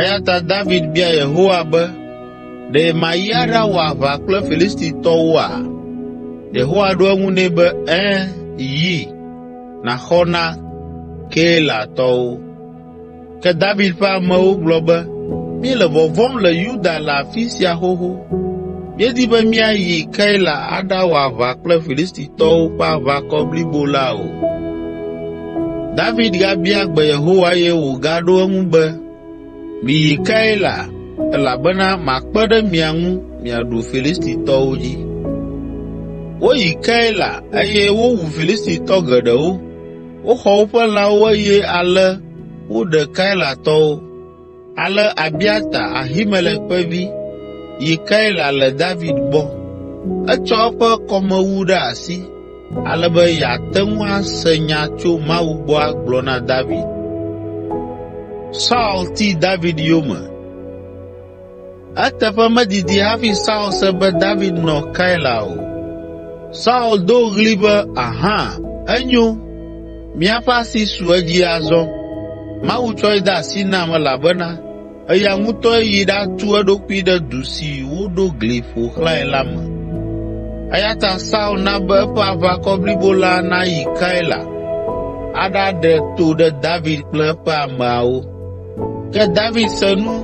Eya ta David bia Yehowa be, “Ɖe mayi aɖawɔ aʋa kple Filistitɔwoa?” Yehowa ɖo eŋu nɛ be, “Ẽ, yi, nàxɔ na Keilatɔwo.” Ke David ƒe amewo gblɔ be, “Míele vɔvɔ̃m le Yuda le afi sia xoxo. Míedi be míayi Keila aɖawɔ aʋa kple Filistitɔwo ƒe aʋakɔ blibo la o.” David gabia gbe Yehowa eye wògaɖo eŋu be, “Miyi Keila, elabena makpe ɖe mia ŋu miaɖu Filistitɔwo dzi.” Woyi Keila eye wowu Filistitɔ geɖewo, woxɔ woƒe lãwo eye ale woɖe Keilatɔwo. Ale Abiata, Ahimelek ƒe vi, yi Keila le David gbɔ. Etsɔ eƒe kɔmewu ɖe asi ale be yeate ŋu ase nya tso Mawu gbɔ agblɔ na David. Eteƒe medidi hafi Saul se be David nɔ Keila o. Saul do ɣli be, “Aha! Enyo! Míaƒe asi su edzi azɔ. Mawu tsɔe de asi nam elabena eya ŋutɔe yi ɖatu eɖokui ɖe du si woɖo gli ƒo xlãe la me.” Eya ta Saul na be eƒe aʋakɔ blibo la nayi Keila aɖaɖe to ɖe David kple eƒe ameawo. Ke David se nu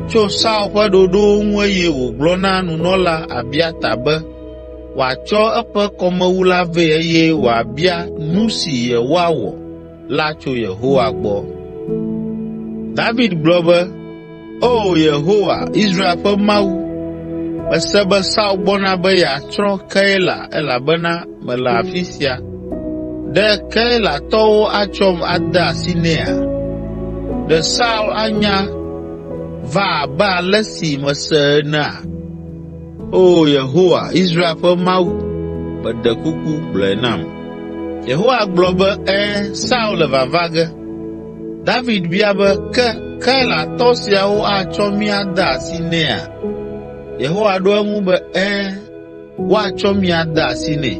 tso Saul ƒe ɖoɖowo ŋu eye wògblɔ na nunɔla Abiata be wòatsɔ eƒe kɔmewu la vɛ eye wòabia nu si yewoawɔ la tso Yehowa gbɔ. David gblɔ be, “Oo, Yehowa, Israel ƒe Mawu, mese be Saul gbɔna be yeatsrɔ̃ Keila elabena mele afi sia. Ɖe Keilatɔwo atsɔm ade asi nɛa? Ɖe Saul anya va abe ale si mese enea? Oo Yehowa, Israel ƒe Mawu, meɖe kuku, gblɔe nam.” Yehowa gblɔ be, “Ẽ, Saul le vava ge.” David bia be, “Ke Keilatɔ siawo atsɔ mí ade asi nɛa?” Yehowa ɖo eŋu be, “Ẽ.” woatsɔ mi ade asi nɛ.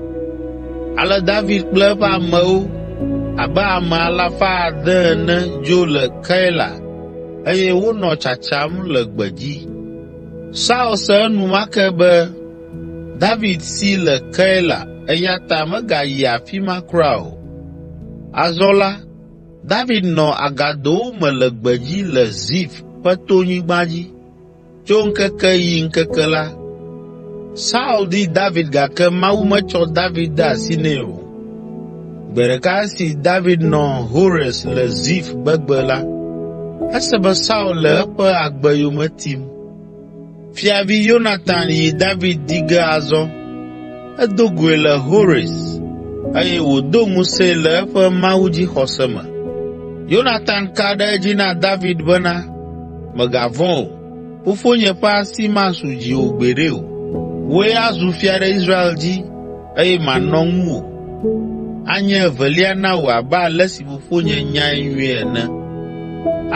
Ale David kple eƒe amewo abe ame alafa ade ene dzo le Keila eye wonɔ tsatsam le gbedzi. Saul se enumake be David si le Keila eya ta megayi afi ma kura o. Azɔ la, David nɔ agadowo me le gbedzi le Zif ƒe tonyigba dzi. Tso ŋkeke yi ŋkeke la, Saul di David gake Mawu metsɔ David de asi nɛ o. Gbe ɖeka esi David nɔ Hores le Zif gbegbe la, ese be Saul le eƒe agbe yome tim. Fiavi Yonatan yi David di ge azɔ. Edo goe le Hores eye wòdo ŋusẽe le eƒe mawudzixɔse me. Yonatan ka ɖe edzi na David bena, Mègavɔ̃ o, fofonye ƒe asi masu dziwò gbeɖe o. Wòe azu fia ɖe Israel dzi eye manɔ ŋuwò. Anye evelia na wò abe ale si fofonye nyae nyuie ene.”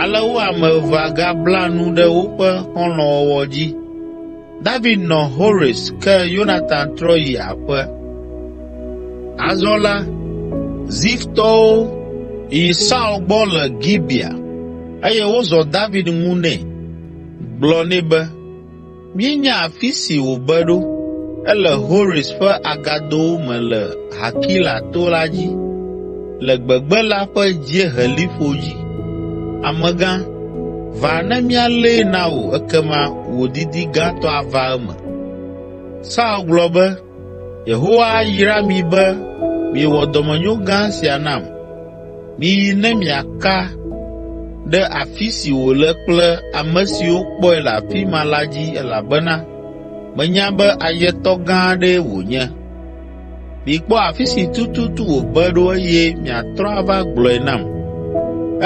Ale wo ame evea gabla nu ɖe woƒe xɔlɔ̃wɔwɔ dzi. David nɔ Hores ke Yonatan trɔ yi aƒe. Azɔ la, Ziftɔwo yi Saul gbɔ le Gibea eye wozɔ David ŋu nɛ. Gblɔ nɛ be, “Míenya afi si wòbe ɖo, ele Hores ƒe agadowo me le Hakila to la dzi, le gbegbe la ƒe dzieheliƒo dzi. Amegã, va ne míalée na wò ekema wò didi gãtɔ ava eme.” Saul gblɔ be, “Yehowa ayra mi be miewɔ dɔmenyo gã sia nam. Miyi ne miaka ɖe afi si wòle kple ame siwo kpɔe le afi ma la dzi elabena menya be ayetɔ gã aɖee wònye.” Mikpɔ afi si tututu wòbe ɖo eye miatrɔ ava gblɔe nam.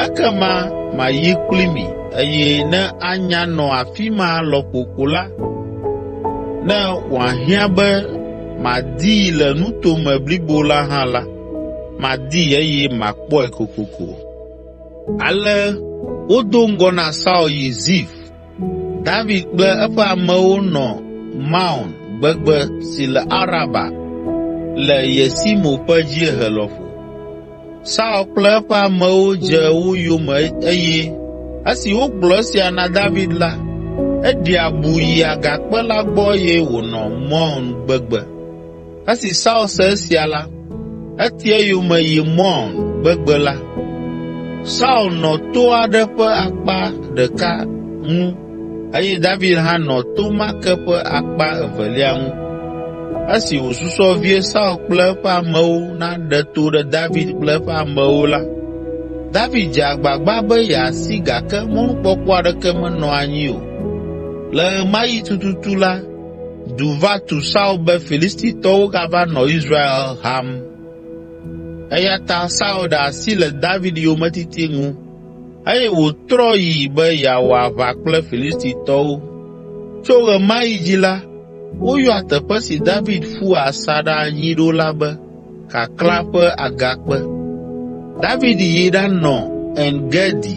Ekema mayi kpli mi eye ne anya nɔ afi ma lɔƒo ko la, ne wòahiã be madii le nuto me blibo la hã la, madii eye makpɔe kokoko.” Ale wodo ŋgɔ na Saul yi Zif. David kple eƒe amewo nɔ Maon gbegbe si le Araba le Yesimo ƒe dziehe lɔƒo. Saul kple eƒe amewo dze wo yome eye esi wogblɔ esia na David la, eɖi abu yi agakpe la gbɔ eye wònɔ Maon gbegbe. Esi Saul se esia la, eti eyome yi Maon gbegbe la. Saul nɔ to aɖe ƒe akpa ɖeka ŋu eye David hã nɔ to ma ke ƒe akpa evelia ŋu. Esi wòsusɔ vie Saul kple eƒe amewo naɖe to ɖe David kple eƒe amewo la, David dze agbagba be yeasi gake mɔnukpɔkpɔ aɖeke menɔ anyi o. Le ɣemaɣi tututu la, du va tu Saul be Filistitɔwo gava nɔ Israel ham. Eya ta Saul ɖe asi le David yometiti ŋu eye wòtrɔ yi be yeawɔ aʋa kple Filistitɔwo. Tso ɣe ma ɣi dzi la, woyɔa teƒe si David ƒu asaɖa anyi ɖo la be Kaklã ƒe Agakpe. David yi ɖanɔ En Gedi.